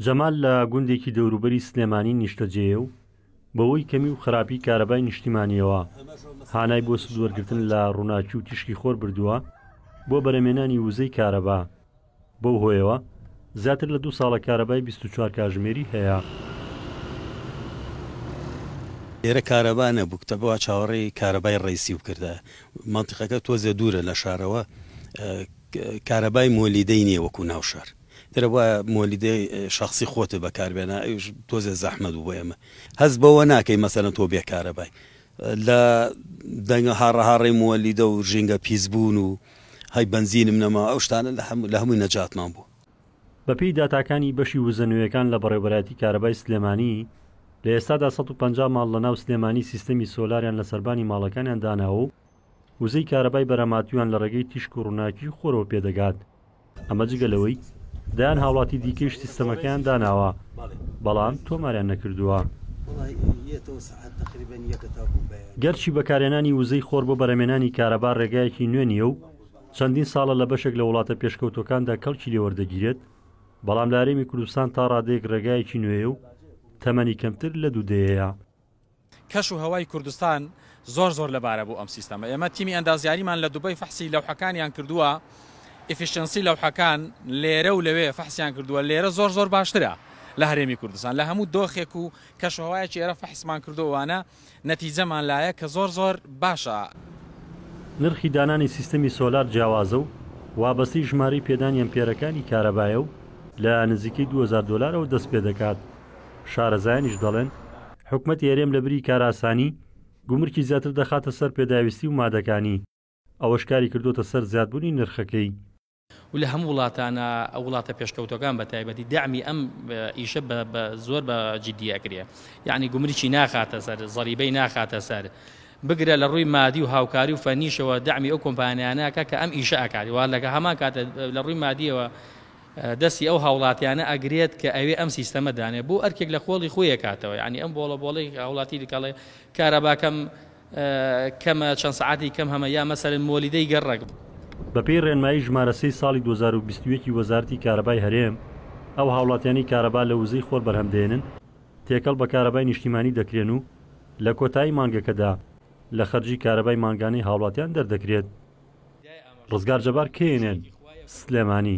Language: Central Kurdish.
جەمال لە گوندێکی دەوروبەری سلێمانی نیشتەجێیە و بەهۆی کەمی و خراپی کارەبای نیشتیمانییەوە هانای بۆ سود وەرگرتن لە ڕووناکی و تیشکی خۆر بردووە بۆ بەرەمێنانی وزەی کارەبا بەو هۆیەوە زیاتر لە دوو ساڵە کارەبای 24 کاژمێری هەیە. لێرە کارەبا نەبوو کتەبە وا چاوەڕێی کارەبای ڕەیسی و کردە مەنتیقەکە تۆزێ دوورە لە شارەوە. کارەبای مۆلیدەی نیە وەکو ناو شار گەربوایە مۆلیدەی شەخسی خۆتت بەکار بێنا ئەوش تۆزێ زەحمەت بوو بۆ ئێمە هەست بەوە ناکەی مەسەلەن تۆ بێ کارەبای لە دەنگە هاڕە هاڕەی مۆلیدە و ژینگە پیس بوون و هەی بەنزینم نەما ئەو شتانە لە هەمووی نەجاتمان بوو. بەپێی داتاکانی بەشی وزە نوێیەکان لە بەڕێوبەرایەتی کارەبای سلێمانی، لە ئێستادا سەد و پەنجا ماڵ لەناو سلێمانی سیستەمی سۆلاریان لە سەربانی ماڵەکانیان داناوە و وزەی کارەبای بەراماتوویان لە ڕێگەی تیشک و ڕووناکیی خۆرەوە پێدەگات، ئەمە جگە لەوەی دەیان هاوڵاتی دیکەیش سیستەمەکەیان داناوە، بەڵام تۆماریان نەکردووە. گەرچی بەکارهێنانی وزەی خۆر بۆ بەرهەمێنانی کارەبا ڕێگایەکی نوێ نییە و چەندین ساڵە لە بەشێک لە وڵاتە پێشکەوتووەکاندا کەڵکی لێ وەردەگیرێت، بەڵام لە هەرێمی کوردستان تا ڕادەیەک ڕێگایەکی نوێیە و تەمەنی کەمتر لە دوو دەیەیە. کەش و هەوای کوردستان زۆر زۆر لەبارە بۆ ئەم سیستەمە ئێمە تیمی ئەندازیاریمان لە دوبەی فەحسی لەوحەکانیان کردووە ئیفیشنسی لەوحەکان لێرە و لەوێ فەحسیان کردووە لێرە زۆر زۆر باشترە لە هەرێمی کوردستان لە هەموو دۆخێک و کەشوهوایەکی ئێرە فەحسمان کردووانە نەتیجەمان لایە کە زۆر زۆر باشە. نرخی دانانی سیستەمی سۆلار جیاوازە و وابەستەی ژمارەی پێدانی ئەمپێرەکانی کارەبایە و لە نزیکەی دوو هەزار دۆلارەوە دەست پێدەکات شارەزایانیش دەڵێن، حکومەتی هەرێم لە بری کارئاسانی، گومرکی زیاتر دەخاتە سەر پێداویستی و مادەکانی، ئەوەش کاری کردووەتە سەر زیادبوونی نرخەکەی. و لە هەموو وڵاتانە وڵاتە پێشکەوتوەکان بە تایبەتی دەعمی ئەم ئیشە بە زۆر بە جیدی ئەکرێ یەعنی گومرکی ناخاتە سەر زەریبەی ناخاتە سەر بگرە لە ڕووی مادی و هاوکاری و فەنیشەوە دەعمی ئەو کۆمپانیانە ئەکا کە ئەم ئیشە ئەکات و لە هەمان کاتە لە ڕووی مادیەوە دەستی ئەو هاوڵاتیانە ئەگرێت کە ئەوێ ئەم سیستەمە دانێ بۆ ئەرکێک لە قۆڵی خۆی ئەکاتەوە یانی ئەم بۆڵە بۆڵەی هاوڵاتی دکەڵێ کارەباکەم کەمە چەند سەعاتی کەم هەمە یا مەسەرن مۆلیدەی گەڕەک بە پێی ڕێنمایی ژمارە سێی ساڵی دوو هەزار و بیست و یەک ی وەزارەتی کارەبای هەرێم ئەو هاوڵاتیانەی کارەبا لە وزەی خۆر بەرهەم دێنن تێکەڵ بە کارەبای نیشتیمانی دەکرێن و لە کۆتایی مانگەکەدا لە خەرجی کارەبای مانگانەی هاوڵاتیان دەردەکرێت. ڕزگار جەبار کێینێن سلێمانی.